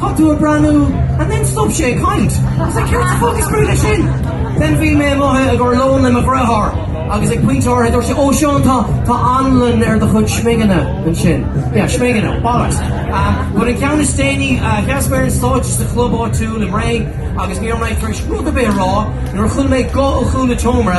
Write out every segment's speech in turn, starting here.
Tá tú ag breathnú and then stop sé ag caint. I was like céard sa fuck is brí leis sin? Then bhí mé amuigh i gcomhair lóin le mo dheartháir agus ag pointe áirithe dúirt sé 'Ó Seán tá tá anlann ar do chuid smigeanna ansin'. Yeah smigeanna. Bollocks. But an ceann is déanaí sheas mé ar an stáitse sa chlub áitiúil i mBré agus ní raibh mé tar éis rud ar bith a rá nuair a chuala mé guth ó chúl an tseomra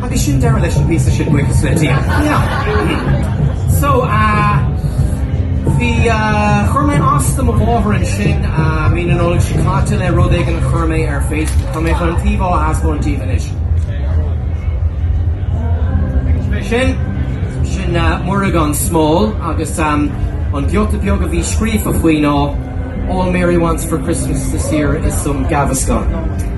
Agus sin deireadh leis an bpíosa sin buíochas le Dia. Yeah. So ahh bhí ahh chuir mé as do mo mháthair ansin ahh mí na Nollag seo caite le rud éigin a chuir mé ar Facebook. Tá mé chun an t-íomhá a thaispeáint daoibh anois. Agus mé sin, sin ahh Muire gan Smál agus ahh an giota beag a bhí scríofa faoi ná All Mary wants for Christmas this year is some Gaviscon.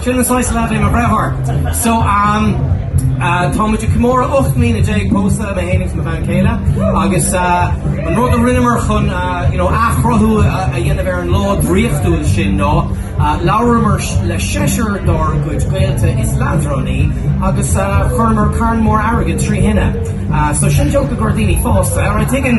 Sin an saghas leaid é mo dheartháir. So um uh táimid ag comóradh ocht mbliana déag pósta mé fhéin agus mo bhean chéile agus uh an rud a rinneamar chun uh you know athchruthú a dhéanamh ar an lá draíochtúil sin ná uh labhramar le seisear dár gcuid gaolta is leadránaí agus uh chuireamar carn mór airgid trí thine. Uh so sin joke i gcomhair daoine pósta. Alright taking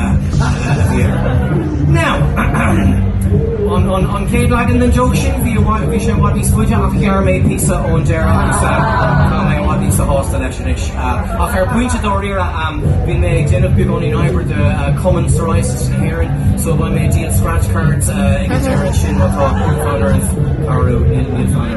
Now, an chéad leagan den joke sin, bhí sé i bhfad níos faide ach ghearr mé píosa ón deireadh agus tá mé i bhfad níos sásta leis anois. Ach ar phointe dáiríre, bhí mé ag déanamh beagáinín oibre do Cumann Psoriasis na hÉireann, so beidh mé ag díol scratch cards ag an deireadh ansin, má tá fonn oraibh cabhrú, níl fonn oraibh.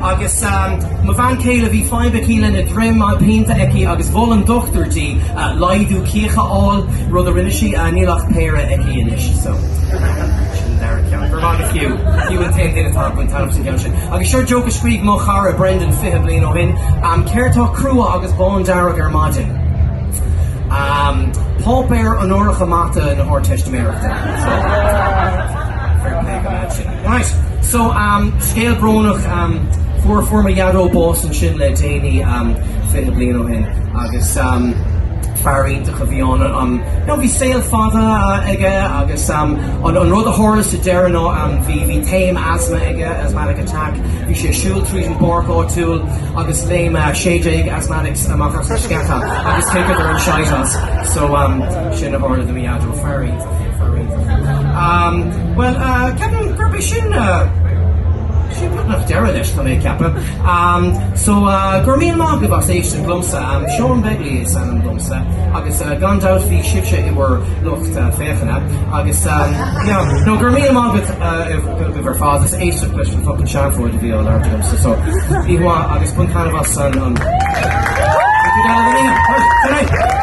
Agus mo bhean chéile, bhí fadhb aici lena droim, pianta aici agus mhol an dochtúir di laghdú cíoch a fháil, rud a rinne sí, níl ach péire aici anois so sin an dara ceann. Go raibh maith agat fiú, fiú an t-aon duine atá ag baint taitneamh as an gceann sin. Agus seo joke a scríobh mo chara Brendan fiche bliain ó shin, um, céard tá crua agus bándearg ar maidin. Um, páipéar onóracha mata na hArdteistiméireachta. So, fair play go mad. Right, so um scéal brónach um fuair fuair mo dhaideo bás ansin le déanaí um fiche bliain ó shin agus um fear iontach a bhí ann um you know bhí saol fada aige agus um an an rud a tharla sa deireadh ná um bhí bhí taom asthma aige, asthmatic attack, bhí sé ag siúl tríd an bpáirc áitiúil agus léim a sé déag asthmatics amach as na sceacha agus chiceadar an shit as so um sin a tharla do mo dhaideo, fear iontach é, fear iontach. Um. Bhuel, ceapaim gurb é sin sin beagnach deireadh leis tá mé ag ceapadh. So, gura míle maith agaibh as éisteacht liomsa. Seán Begley is ainm domsa agus gan dabht bhí sibhse i bhur lucht féachana agus yeah no gura míle maith agat agaibh ar fad as éisteacht leis an fucking seafóid a bhí á labhairt agamsa so oíche mhaith agus bain taitneamh as an an Good night.